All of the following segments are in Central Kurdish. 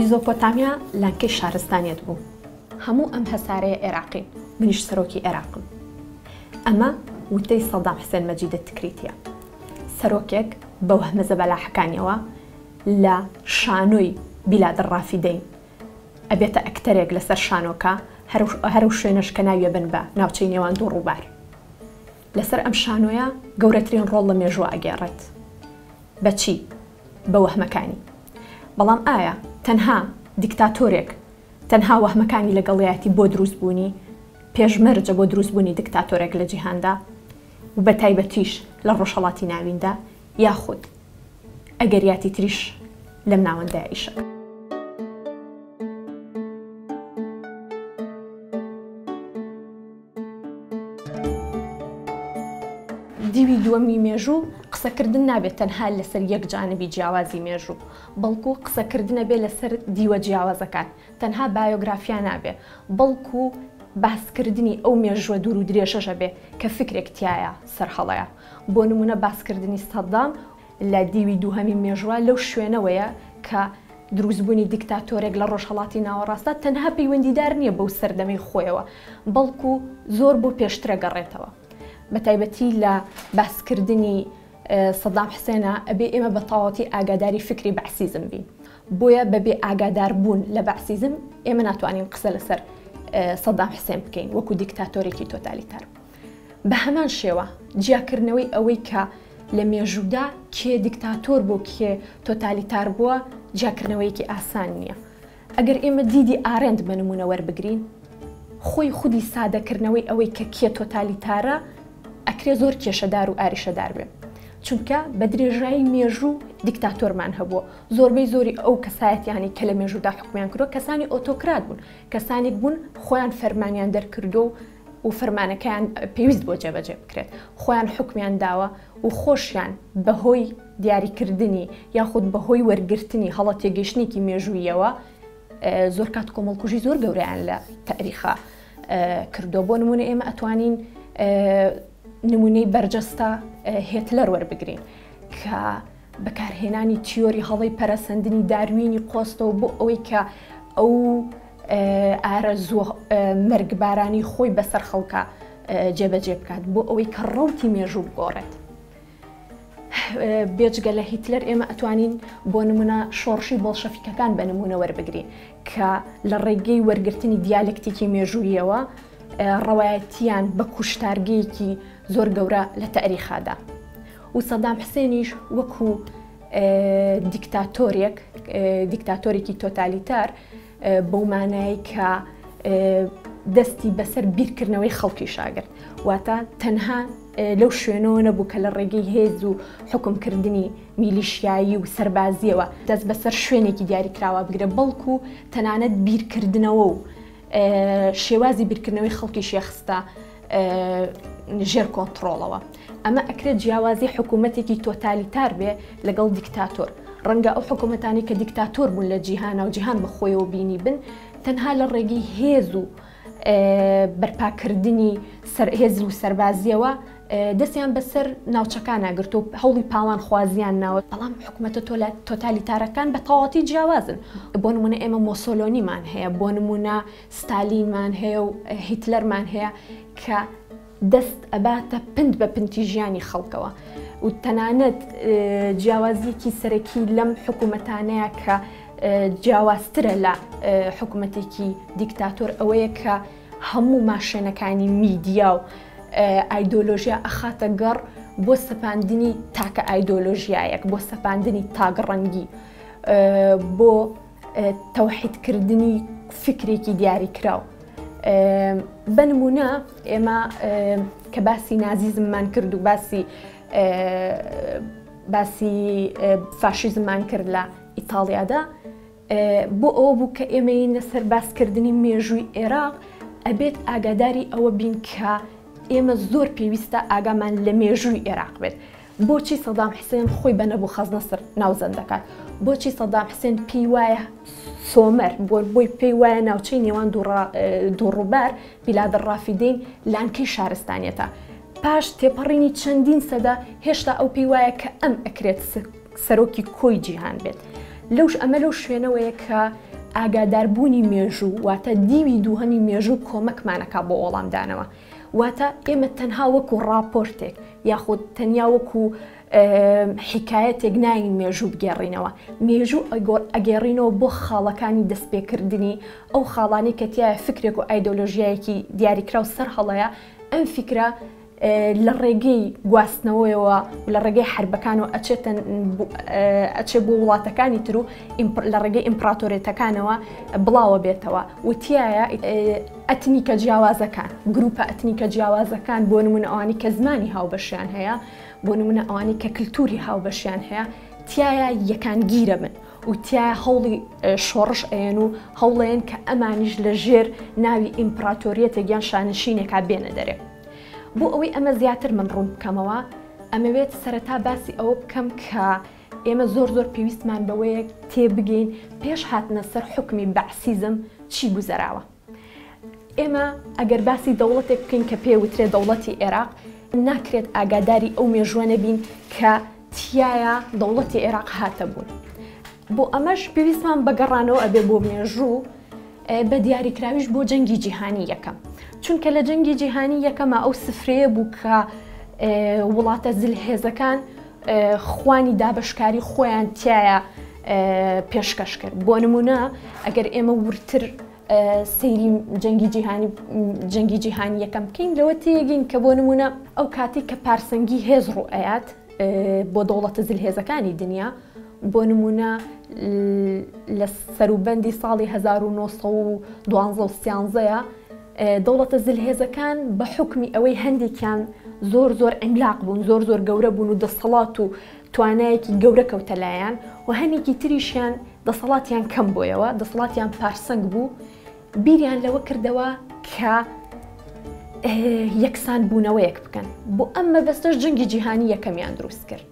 میزۆپۆتامیا لانکەی شارستانیت بوو هەموو ئەم هەسارەیە عێراقی منیش سەرۆکی عێراقم ئەمە وتەی سەدام حسێن مەجیدە تکریتە سەرۆکێک بە وەهمە زەبەلاحەکانیەوە لە شانۆی بیلادە ڕافیدەین ئەبێتە ئەکتەرێک لەسەر شانۆکە هەرو شوێنش کە ناویە بن بە ناوچەی نێوان دوو ڕووبار لەسەر ئەم شانۆیە گەورەترین ڕۆڵ لە مێژووە ئەگێڕێت. بە چی؟ بە وەهمەکانی. بەڵام ئایا تەنها دیکتاتۆرێک تەنها وەهمەکانی لەگەڵیایەتی بۆ دروست بوونی پێشمەرجە بۆ دروست بوونی دیکتاتۆرێک لە جیهاندا و بە تایبەتیش لە ڕۆژهەڵاتی ناویندا یاخود ئەگەریاتی تریش لەم ناوەندە ئیشە؟ دیوی دووەمی مێژوو قسەکردن نابێت تەنها لەسەر یەک جانبی جیاوازی مێژوو بەڵکو قسەکردنە بێ لەسەر دیوە جیاوازەکان تەنها بایۆگرافیا نابێ بەڵکو باسکردنی ئەو مێژووە دوور و درێژەشە بێ کە فکرێک تایە سەرهەڵەیە بۆ نمونە باسکردنی سەدام لە دیوی دووهەمی مێژوە لەو شوێنەوەیە کە دروستبونی دیکتاتۆرێک لە ڕۆژهەڵاتی ناوەڕاستدا تەنها پەیوەندیدار نیە بەو سەردەمەی خۆیەوە بەڵکو زۆر بۆ پێشترەگەڕێتەوە بەتایبەتی لە باسکردنی سەدام حسێنا ئەبێ ئێمە بە تەواوەتی ئاگاداری فکری بەعسیزم بین بۆیە بەبێ ئاگاداربوون لە بەعسیزم ئێمە ناتوانین قسە لەسەر سەدام حسێن بکەین وەکو دیکتاتۆرێکی تۆتالیتار. بە هەمان شێوە جیاکردنەوەی ئەوەی کە لە مێژوودا کێ دیکتاتۆر بوو کێ تۆتالیتار بووە جیاکردنەوەیەکی ئاسان نییە. ئەگەر ئێمە دیدی ئارێنت بە نموونە وەربگرین خۆی خودی سادەکردنەوەی ئەوەی کە کێ تۆتالیتارە ئەکرێ زۆر کێشەدار و ئاریشەدار بێ. چونکە بە درێژایی مێژوو دیکتاتۆرمان هەبووە. زۆربەی زۆری ئەو کەسایەتییانەی کە لە مێژوودا حوکمیان کردووە کەسانی ئۆتۆکرات بوون. کەسانێک بوون خۆیان فەرمانیان دەرکردووە و و فەرمانەکەیان پێویست بووە جێبەجێ بکرێت، خۆیان حوکمیان داوە و خۆشیان بەهۆی دیاریکردنی یاخود بەهۆی وەرگرتنی هەڵە تێگەیشتنێکی مێژووییەوە زۆر کات کۆمەڵکوژی زۆر گەورەیان لە تاریخا کردووە بۆ نمونە ئێمە ئەتوانین نمونەی بەرجەستە هێتلەر وەربگرین کە بەکارهێنانی تیۆری هەڵەی پەرەسەندنی داروینی قۆستەوە بۆ ئەوەی کە ئەو ئارەزوە مەرگبارانی خۆی بەسەر خەڵکە جێبەجێ بکات بۆ ئەوەی کە ڕوتی مێژوو بگۆڕێت. بێجگە لە هیتلەر ئێمە ئەتوانین بۆ نمونە شۆڕشی بۆڵشەفیکەکان بە نمونە وەربگرین کە لە ڕێگەی وەرگرتنی دیالکتیکی مێژوویەوە ڕەوایەتیان بە کوشتارگەیەکی زۆر گەورە لە تاریخادا. و سەدام حسێنیش وەکو دیکتاتۆرێک دیکتاتۆرێکی تۆتالیتار بەو مانایی کە دەستی بەسەر بیرکردنەوەی خەڵکی شاگرت واتە تەنها لەو شوێنەوە نەبوو کە لە ڕێگەی هێز و حکمکردنی میلیشیایی و سربازیەوە دەست بەسەر شوێنێکی دیاریکراوە بگرە بەڵکو و تەنانەت بیرکردنەوە و شێوازی بیرکردنەوەی خەڵکی شێخستە ژێر کۆنتترۆڵەوە ئەمە ئەکرێت جیاوازی حکوومەتێکی تۆتالیتار بێ لەگەڵ دیکتاتۆر ڕەنگە ئەو حکوومەتانی کە دیکتاتۆر بوون لە جیهانە و جیهان بەخۆیەوە بینی بن تەنها لە ڕێگەی هێز و بەرپاکردنی هێز و سەربازیەوە دەستیان بەسەر ناوچەکان ناگرت و هەوڵی پاوان خوازیان ناوە بەڵام حکوومەتە تۆلا تۆتالیتارەکان بە تەواتی جیاوازن بۆ نمونە ئێمە مۆسۆلۆنیمان هەیە بۆ نمونە ستالینمان هەیە و هیتلەرمان هەیە کە دەست ئەباتە پنت بە پنتی ژیانی خەڵکەوە و تەنانەت جیاوازیەکی سەرەکی لەم حکوومەتانەیە کە جیاوازترە لە حکوومەتێکی دیکتاتۆر ئەوەیە کە هەموو ماشێنەکانی میدیا و ئایدۆلۆژیا ئەخاتە گەڕ بۆ سەپاندنی تاکە ئایدۆلۆژیایەک بۆ سەپاندنی تاگەڕەنگی بۆ تەوحیدکردنی فیکرێکی دیاریکراو بە نمونە ئێمە کە باسی نازیزممان کرد و باسی باسی فاشیزممان کرد لە ئیتاڵیادا بۆ ئەو بوو کە ئێمەی نەسەر باسکردنی مێژووی عێراق ئەبێت ئاگاداری ئەوە بین کە ئێمە زۆر پێویستە ئاگامان لە مێژووی عێراق بێت بۆچی سەدام حسێن خۆی بە نەبوخەزنەسر ناوزەند دەکات؟ بۆچی سەدام حسێن پێی وایە سۆمەر بۆی پێی وایە ناوچەی نێوان دووڕووبار بیلادە ڕافیدین لانکەی شارستانیەتە؟ پاش تێپەڕینی چەندین سەدە هێشتا ئەو پێی وایە کە ئەم ئەکرێت سەرۆکی کۆی جیهان بێت. لەوش ئەمە لەو شوێنەوەیە کە ئاگاداربوونی مێژوو واتە دیوی دووهەمی مێژوو کۆمەکمانەکە بۆ وەڵامدانەوە. واتە ئێمە تەنها وەکو ڕاپۆرتێک یاخود تەنیا وەکو حیکایەتێک ناین مێژوو بگێڕینەوە مێژوو ئەگۆر ئەگەێڕینەوە بۆ خاڵەکانی دەستپێکردنی ئەو خاڵانی کە تایە فکرێک و ئایدۆلۆژیایەکی دیاریکرا و سەر هەڵەیە ئەم فکرە لە ڕێگەی گواستنەوەیەوە لە ڕێگەی حربەکان و ئەچێتن ئەچێ بۆ وڵاتەکانی تر و لە ڕێگەی ئیمپراتۆرێتەکانەوە بڵاوە بێتەوە وتیایە ئەتنیکە جیاوازەکان، گرووپە ئەتنیکە جیاوازەکان، بۆ نموونە ئەوانەی کە زمانی هاوبەشیان هەیە، بۆ نموونە ئەوانەی کە کلتوری هاوبەشیان هەیە، تیایا یەکانگیرە بن و تیایا هەوڵی شۆڕش ئەیەن و هەوڵەیەن کە ئەمانیش لە ژێر ناوی ئیمپڕاتۆریەتێک یان شانشینێکا بێنە دەرێ. بۆ ئەوەی ئەمە زیاتر من ڕوون بکەمەوە، ئەمەوێت سەرەتا باسی ئەوە بکەم کە ئێمە زۆر زۆر پێویستمان بەوەیە تێبگەین پێش هاتنە سەر حوکمی بەعسیزم چی گوزەراوە. ئێمە ئەگەر باسی دەوڵەتێک بکەین کە پێ وترێ دەوڵەتی ئێراق، ناکرێت ئاگاداری ئەو مێژووە نەبین کە تیایا دەوڵەتی ئێراق هاتە بوون. بۆ ئەمەش پێویستمان بە گەڕانەوە ئەبێ بۆ مێژوو، بە دیاریکراویش بۆ جەنگی جیهانی یەکەم. چونکە لە جەنگی جیهانی یەکەما ئەو سفرەیە بوو کە وڵاتە زلهێزەکان خوانی دابەشکاری خۆیان تایە پێشکەش کرد بۆ نمونە ئەگەر ئێمە ورتر سەیری جەنگی جیهانی جەنگی جیهانی یەکەم بکەین لەوە تێگەین کە بۆ نمونە ئەو کاتی کە پارسەنگی هێز ڕوئەیات بۆ دەوڵەتە زلهێزەکانی دنیا بۆ نمونە لە سەروبەندی ساڵی 1912 سیانزەیە دەوڵەتە زلهێزەکان بە حوکمی ئەوەی هەندێکیان زۆر زۆر عیملاق بوون زۆر زۆر گەورە بوون و دەسەڵات و توانایەکی گەورە کەوتە لایان و هەنێکی تریشیان دەسەڵاتیان کەم بۆیەوە دەسەڵاتیان پارسەنگ بوو بیریان لەوە کردەوە کە یەکسان بوونەوەیەک بکەن بۆ ئەم مەبەستەش جەنگی جیهانی یەکەمیان دروست کرد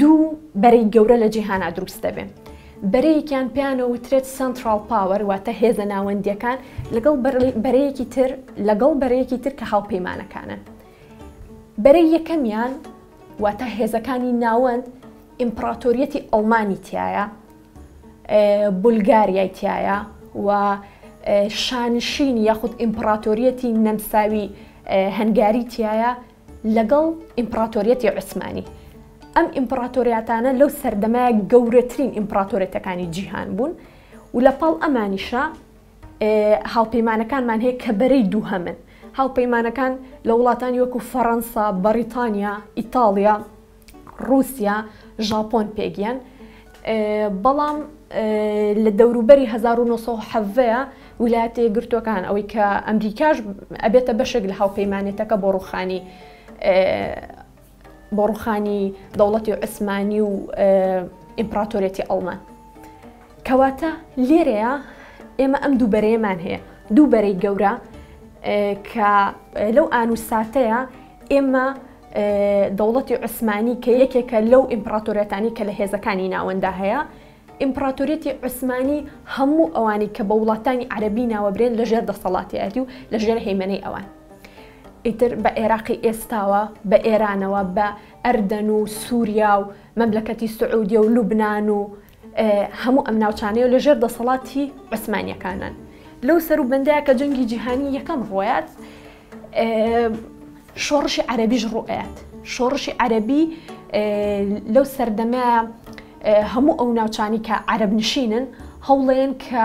دوو بەرەی گەورە لە جیهانا دروست دەبێن بەرەیەکیان پیانە وترێت سنترال پاوەر واتە هێزە ناوەندیەکان لەگەڵ بەرەیەکی تر لەگەڵ بەرەیەکی تر کە هاوپەیمانەکانن بەرەی یەکەمیان واتە هێزەکانی ناوەند ئیمپراتۆریەتی ئەڵمانی تایە بولگاریای تایە و شانشینی یاخود ئیمپراتۆریەتی نەمساوی هەنگاری تایە لەگەڵ ئیمپڕاتۆریەتی عوسمانی، ئەم ئیمپڕاتۆریاتانە لەو سەردەمە گەورەترین ئیمپڕاتۆریەتەکانی جیهان بوون و لە پاڵ ئەمانیشە هاوپەیمانەکانمان هەیە کە بەرەی دووهەمن، هاوپەیمانەکان لە وڵاتانی وەکو فەڕەنسا، بەڕیتانیا، ئیتاڵیا، ڕووسیا، ژاپۆن پێگییان، بەڵام لە دەوروبەری هەزار و نۆ سەد و حەڤدە ویلایەتە یەکگرتووەکان ئەوەی کە ئەمریکاش ئەبێتە بەشێک لە هاوپەیمانێتەکە بۆ ڕووخانی بۆ ڕووخانی دەوڵەتی عوسمانی و ئیمپراتۆرێتی ئەڵمان کەواتە لێرەیە ئێمە ئەم دوو بەرەیەمان هەیە دوو بەرەی گەورە کە لەو ئان و ساتەیە ئێمە دەوڵەتی عوسمانی کە یەکێکە لەو ئیمپڕاتۆریەتانی کە لە هێزەکانی ناوەندا هەیە ئیمپراتۆریەتی عوسمانی هەموو ئەوانی کە بە وڵاتانی عەربی ناوەبرێن لە ژێر دەسەڵاتیاتی و لە ژێر هەیمەەی ئەوان ئیتر بە عێراقی ئێستاوە بە ئێرانەوە بە ئەردەن و سووریا و مەملەکەتی سعودیە و لوبناان و هەموو ئەم ناوچانەیە لە ژێر دەسەڵاتی عوسمانیەکانن لەو سەر و بەندەیە کە جەنگی جیهانی یەکەم ڕۆیات شۆڕشی عەربیش ڕوئات شۆڕشی عەربی لەو سەردەمە هەموو ئەو ناوچانی کە عەرب نشینن هەوڵێن کە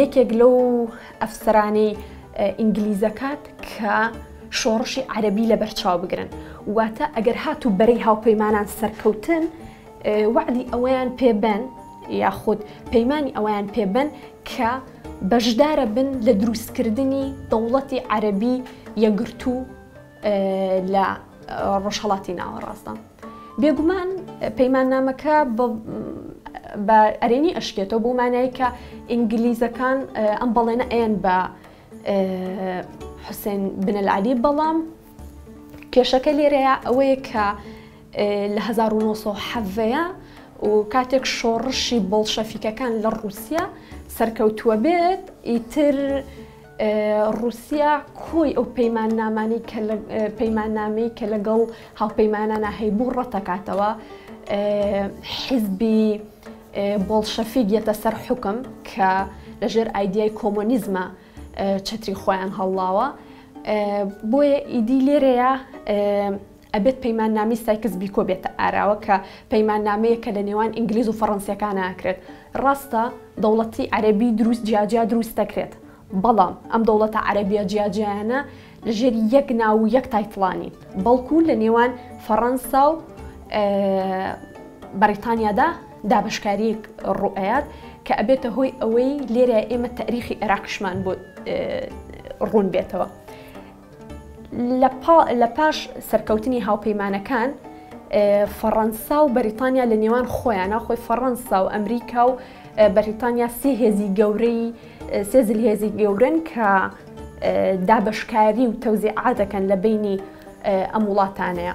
یەکێک لەو ئەفسەرانەی ئینگلیزەکات کە شۆڕشی عەربی لە بەرچاو بگرن واتە ئەگەر هات و بەرەی هاوپەیمانان سەرکەوتن وعدی ئەوەیان پێبەن یاخود پەیمانی ئەویان پێبەن کە بەشدارە بن لە دروستکردنی دەوڵەتی عەربی یەگرتوو لە ڕۆژهەڵاتی ناوەڕاستدا. بێگومان پەیماننامەکە بە ئەرێنی ئەشکێتەوە بەو مانای کە ئینگلیزەکان ئەم بەڵێنە ئەیەن بە حوسێن بنەلعلی بەڵام کێشەکە لێرەیە ئەوەیە کە لە 1970ەیە و کاتێک شۆڕشی بۆڵشەفیکەکان لە ڕووسیا سەرکەوتووە بێت ئیتر ڕووسیا کۆی ئەو پەیماننامانەی کە پەیماننامەی کە لەگەڵ هاوپەیمانانە هەیبوو ڕەتەکاتەوە حیزبی بۆڵشەفیک یەتە سەر حکم کە لەژێر ئایدیای کۆمۆنیزمە چەتری خۆیان هەڵڵاوە بۆیە ئیدی لێرەیە ئەبێت پەیماننامەی سایکس بیکۆ بێتە ئاراوە کە پەیماننامەیەک کە لە نێوان ئینگلیز و فەڕەنسییەکانا ئەکرێت. ڕاستە دەوڵەتی عەرەبی دروست جیا جیا دروست دەکرێت، بەڵام ئەم دەوڵەتە عەرەبییە جیا جیایانە لە ژێر یەک ناو و یەک تایتڵا نین، بەڵکوو لە نێوان فەڕەنسا و بەڕیتانیادا دابەشکارییەک ڕوو ئەیات کە ئەبێتە هۆی ئەوەی لێرە ئێمە تاریخی عێراقیشمان بۆ ڕوون بێتەوە. لە پاش سەرکەوتنی هاوپەیمانەکان، فەڕەنسا و بەریتانیا لە نێوان خۆیانا، خۆی فەڕەنسا و ئەمریکا و بەریتانیا سێ هێزی گەورەی سێ زلهێزی گەورەن کە دابەشکاری و تەوزیعا دەکەن لە بینی ئەم وڵاتانەیە.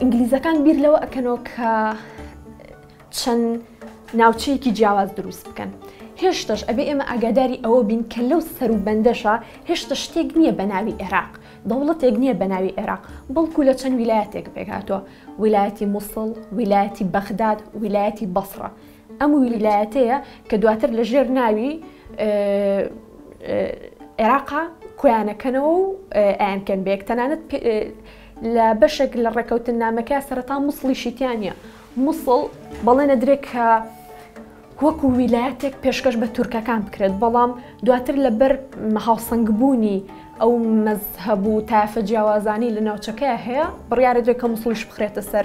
ئینگلیزەکان بیر لەوە ئەکەنەوە کە چەند ناوچەیەکی جیاواز دروست بکەن هێشتش ئەبێ ئێمە ئاگاداری ئەوە بین کە لەو سەر و بەندەشە هێشتە شتێک نییە بە ناوی عێراق دەوڵەتێک نییە بە ناوی عێراق بەڵکو لە چەند ویلایەتێک پێکهاتوە ویلایەتی مووسڵ ویلایەتی بەغداد ویلایەتی بەسڕە ئەم ویلایەتەیە کە دواتر لە ژێر ناوی عێراقا کۆیانەکەنەوە و ئەیانکەن بێک تەنانەت لە بەشێک لە ڕێکەوتننامەکە سەرەتا موسڵیشی تیا نییە. موسڵ بەڵێنەدرێت کە وەکو ویلایەتێک پێشکەش بە تورکەکان بکرێت، بەڵام دواتر لەبەر هاوسەنگبوونی ئەو مەزهەب و تایەفە جیاوازانەی لە ناوچەکەیە هەیە، بڕیارەدرێت کە موسڵیش بخرێتە سەر